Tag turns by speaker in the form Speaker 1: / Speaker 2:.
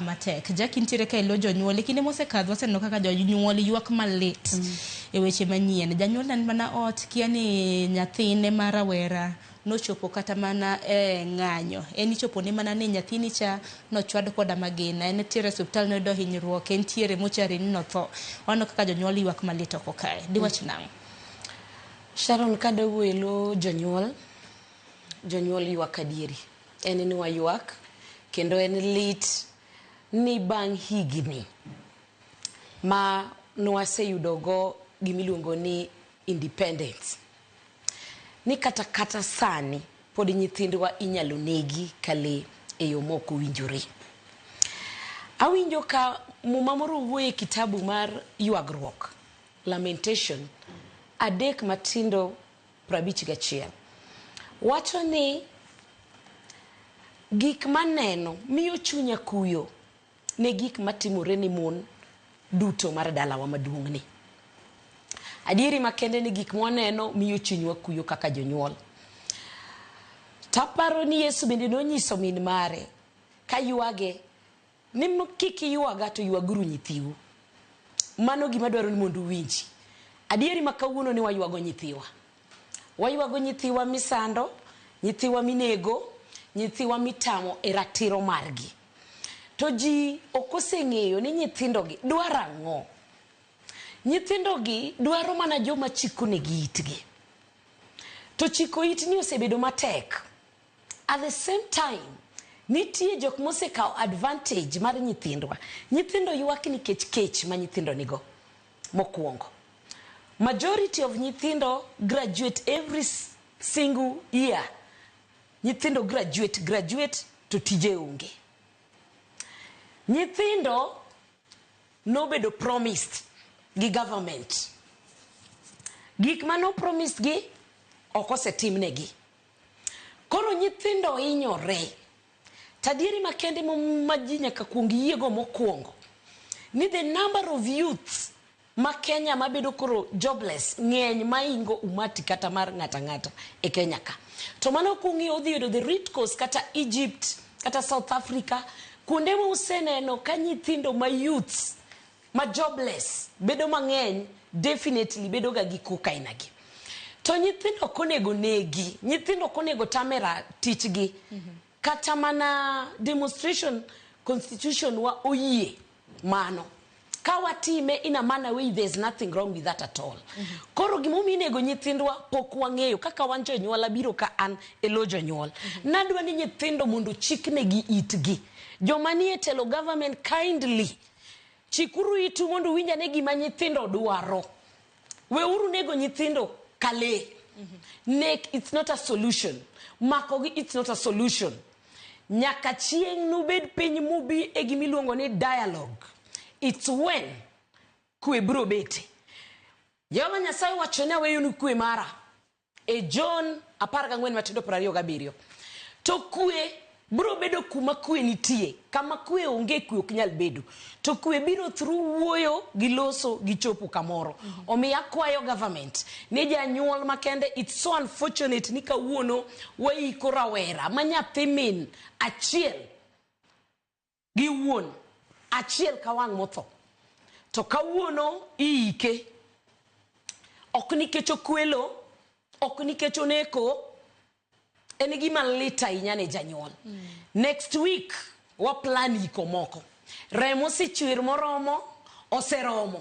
Speaker 1: matek jaki nitiere ka ilo jonyuol e kinde mosekadho waseneno kaka jonyuol ywak malit mm. e weche manyien janyuol nan mana ot kia ni nyathine ma rawera nochopo kata mana e ng'anyo en ichopo ne mana ni nyathini cha nochwad koda magina en tiere osiptal noyudo hinyruok en tiere mochari ni notho waneno kaka jonyuol ywak malit oko kae diwach mm. nang'o
Speaker 2: sharon kadowuelo jonyuol jonyuol ywak adieri en ni waywak kendo en lit ni bang' higni ma nwaseyudogo gimiluongo ni independence ni kata kata sani pod nyithindwa inyalo negi ka lee e yo ma ok owinjore. Awinjo ka muma moro wuoyo e kitabu mar ywagruok, lamentation, adek matindo 51 wacho ni gik maneno miyo chunya kuyo ne gik matimore ni mon duto mar dalawa maduong'ni. Adieri makende ni gik mwaneno miyo chunywa kuyo kaka jonyuol. Taparo ni Yesu bende nonyiso min mare ka ywage Ni kik iywaga to ywaguru nyithiu. Mano gima dwaro ni mondo uwinji. Adieri ma kawuono ni waywago nyithiwa. Waywago nyithiwa misando, nyithiwa minego, nyithiwa mitamo e ratiro margi. To ji ok oseng'eyo ni nyithindogi dwaro ang'o. Nyithindogi dwaro mana joma chikonegi itgi. To chiko it ni osebedo matek. At the same time, nitie jok mosekawo advantage mar nyithindwa. Nyithindo ywak nikech kech ma nyithindo nigo. Mokwongo, majority of nyithindo graduate every single year. Nyithindo graduate, graduate to tije onge. Nyithindo nobedo promised gi government. Gik mano promised gi ok osetimnegi. Koro nyithindo hinyore. To adieri makende ma ji nyaka kuong yiego mokwongo ni the number of youths ma Kenya mabedo koro jobless ng'eny maingo umati kata mar ng'ata ng'ata e Kenya ka. To mano kung'iyo udhi yudo the root cause kata Egypt kata South Africa kuonde ma useneno ka nyithindo ma youths ma jobless bedo mang'eny definitely bedo ga gi kuka ina gi to nyithindo ok onego negi nyithindo ok onego tamera tichgi mm -hmm. kata mana demonstration constitution wa oyie mano ka watime in a manner way there is nothing wrong with that at all mm -hmm. koro gimomiyo inego nyithindwa pok wang'eyo kaka wan jonyuol abiro ka an e lo jonyuol mm -hmm. nadwa ni nyithindo mondo chiknegi itgi joma nie telo government kindly Chikuru itu mondo uwinj ane gima nyithindo dwaro. Weuru nego nyithindo ka lee. Nek it's not a solution. Makogi it's not a solution. Nyaka chieng' nubed piny mubi e gima iluongo ni dialogue. It's when kwe biro bete. Jehova Nyasaye owacho ni aweyonu kwe mara. E Jon apar gang'wen matindo piero ariyo gabiriyo. To kue biro bedo kuma kue nitie, kama kue onge kue ok nyal bedo. To kue biro through wuoyo gi loso gi chopo kamoro. Omiyo akwayo government ni janyuol makende it's so unfortunate ni kawuono waiko rawera ma nyathi min achiel gi wuon achiel ka wang' motho. To kawuono iyike. Ok nikech okwelo, ok nikech oneko, en gima lit ahinya ne janyuol. Mm. Next week waplan iko moko. Remo osechwer moromo, oseromo.